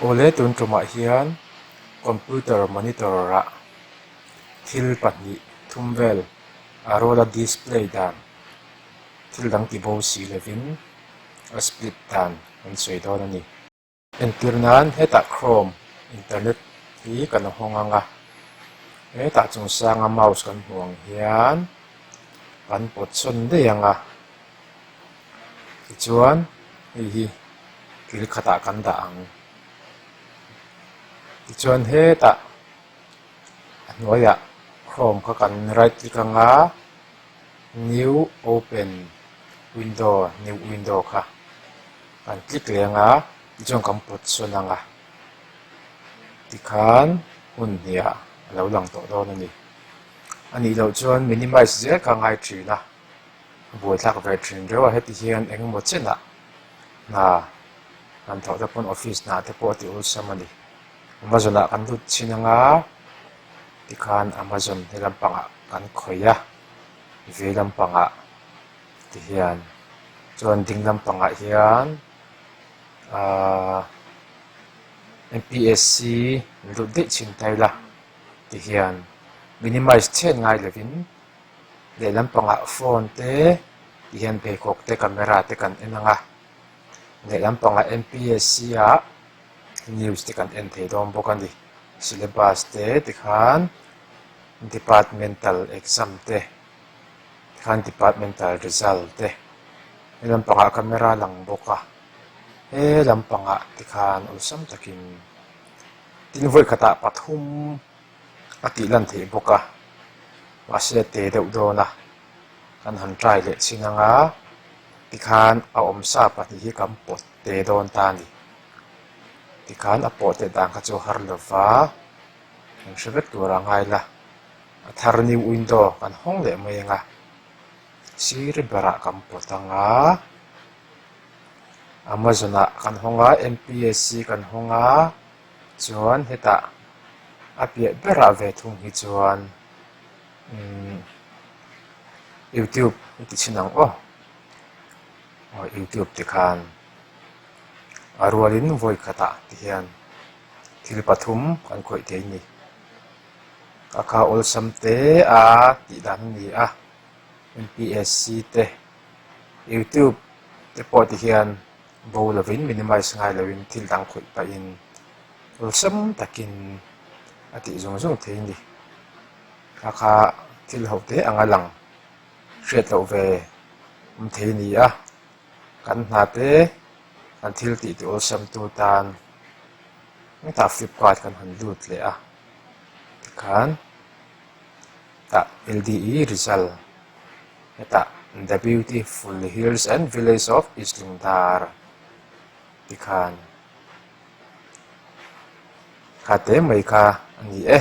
Awle tun tlawmah hian computer monitor ah thil pahnih thum vel a roll a display dan thil dang ti bo si lovin a split dan an sawi dawn a ni. Entir nan hetah Chrome, internet, hi kan a hawng ang a, hetah chung sanga mouse kan hmuh ang hian kan pawt sawn daih ang a, tichuan hei hi thil khatah kan dah ang, tichuan hetah a hnuaiah Chrome kha kan right click ang a, new open window, new window, kha. Kan tlik leng a, tichuan kan pawt sawn ang a, tikhan hun hnia a lo lang tawh dawn a ni. A nih loh chuan minimize zel kha a ngai thin a, a buaithlak ve thin reuh a, heti hian eng emaw chenah hna kan thawh te pawn office hnah te pawh a ti awlsam a ni. Amazon ah kan lut chin ang a, tikhan Amazon he lampangah kan khawih a, vei lampangah. Ti hian. Chuan ding lam pangah hian aaa MPSC min rut daih chhin ta ila ti hian minimize chhet ngai lovin lehlam pangah phone te ti hian beikhawk te camera te kan en anga lehlam pangah MPSC a news te kan en thei dawn bawk a ni. Syllabus te tikhan departmental exam te. khan departmental result te he lampangah camera a lang bawk a he lampangah te khan awlsam takin tin vawi khatah pathum a tih lan theih bawk a mahse te deuh dawn a kan han try leh chin ang a tikhan a awm sa pahnih hi kan pawt te dawn ta a ni tikhan a pawh theih dan kha chu a har lova an hre vek tur a ngai la. A thar new window kan hawng leh mai ang a, sir berah kan pawt ang a, Amazon-ah kan hawng a, MPSC kan hawng a, chuan hetah a piah berah ve thung hi chuan umm youtube i ti chhin ang aw, aw youtube te khan a rualin vawi khatah te hian thil pathum kan khawih theih a ni. Ka kha awlsam te a tih dan a ni a, MPSC te, YouTube te pawh ti hian bo lovin minimize ngai lovin thil dang khawih pahin awlsam takin a tih zawng zawng thei a ni. Kha kha thil ho te anga lang hriat loh ve awm thei a ni a, kan hna te kan thil tih ti awlsam tu tan hetah flipkart kan han lut leh a. tikhan hetah ld i result hetah the beautiful hills and village of islingdar tikhan ka te mai kha a ni e.